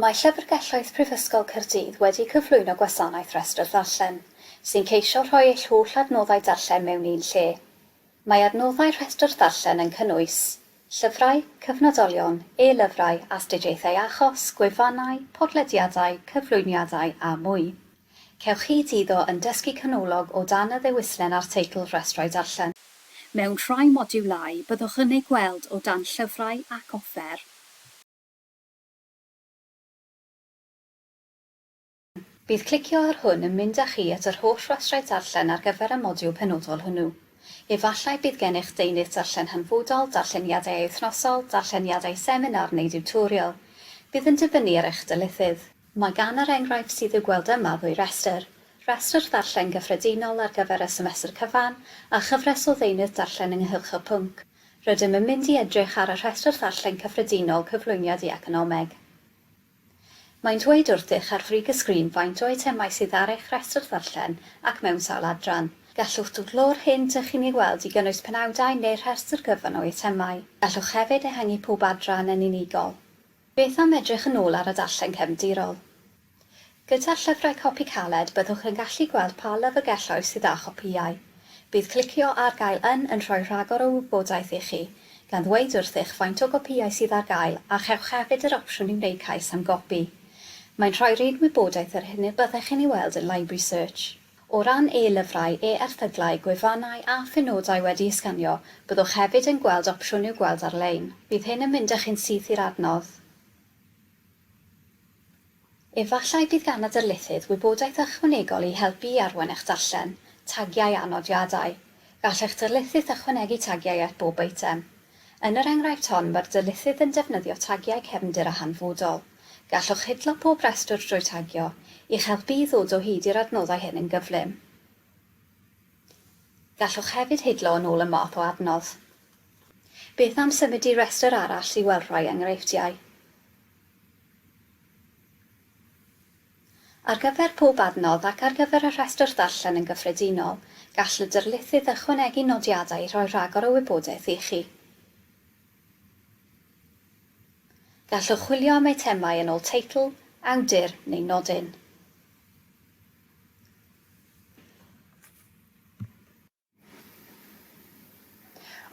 Mae Llyfrgelloedd Prifysgol Caerdydd wedi cyflwyno gwasanaeth Rhestr Ddarllen, sy'n ceisio rhoi eich holl adnoddau darllen mewn un lle. Mae adnoddau Rhestr Ddarllen yn cynnwys, llyfrau, cyfnodolion, e-lyfrau, astudiaethau achos, gwefannau, podlediadau, cyflwyniadau a mwy. Cewch hyd iddo yn dysgu canolog o dan y ddewislen a'r teitl Rhestrau Darllen. Mewn rhai modiwlau, byddwch yn eu gweld o dan Llyfrau ac Offer. Bydd clicio ar hwn yn mynd â chi at yr holl Rhestrau Darllen ar gyfer y modiwl penodol hwnnw. Efallai bydd gennych Deunydd Darllen Hanfodol, Darlleniadau Wythnosol, Darlleniadau Seminar neu Diwtorial. Bydd yn dibynnu ar eich dylithydd. Mae gan yr enghraifft sydd i'w gweld yma ddwy restr, restr ddarllen gyffredinol ar gyfer y semestr cyfan a chyfres o ddeunydd darllen ynghylch y pwnc. Rydym yn mynd i edrych ar y rhestr ddarllen cyffredinol Cyflwyniad i Economeg. Mae'n dweud wrthych ar frig y sgrin faint o eitemau sydd ar eich rhestr ddarllen ac mewn sawl adran. Gallwch dwbllo'r hyn dych chi'n ei weld i gynnwys penawdau neu rhestr gyfan o eitemau. Gallwch hefyd ehangu pob adran yn unigol. Beth am edrych yn ôl ar y darllen cefndirol? Gyda llyfrau copi caled byddwch yn gallu gweld pa lyfrgelloedd sydd â chopïau. Bydd clicio ar gael yn yn rhoi rhagor o wybodaeth i chi, gan ddweud wrthych faint o gopïau sydd ar gael a chewch hefyd yr opsiwn i wneud cais am gopi. Mae'n rhoi'r un wybodaeth yr hyn y byddech chi'n ei weld yn Library Search. O ran e-lyfrau, e-erthyglau, gwefannau a phenodau wedi'u sganio, byddwch hefyd yn gweld opsiwn i'w gweld ar-lein. Bydd hyn yn mynd â chi'n syth i'r adnodd. Efallai bydd gan y darlithydd wybodaeth ychwanegol i helpu i arwain eich darllen, tagiau a nodiadau. Gall eich darlithydd ychwanegu tagiau at bob eitem. Yn yr enghraifft hon, mae'r darlithydd yn defnyddio tagiau cefndir a hanfodol. Gallwch hidlo pob rhestr drwy tagio, i'ch helpu i ddod o hyd i'r adnoddau hyn yn gyflym. Gallwch hefyd hidlo yn ôl y math o adnodd. Beth am symud i restr arall i weld rhai enghreifftiau? Ar gyfer pob adnodd ac ar gyfer y rhestr ddarllen yn gyffredinol, gall y darlithydd ychwanegu nodiadau i roi rhagor o wybodaeth i chi. Gallwch chwilio am eitemau yn ôl teitl, awdur neu nodyn.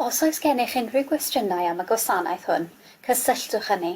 Os oes gennych unrhyw gwestiynau am y gwasanaeth hwn, cysylltwch â ni.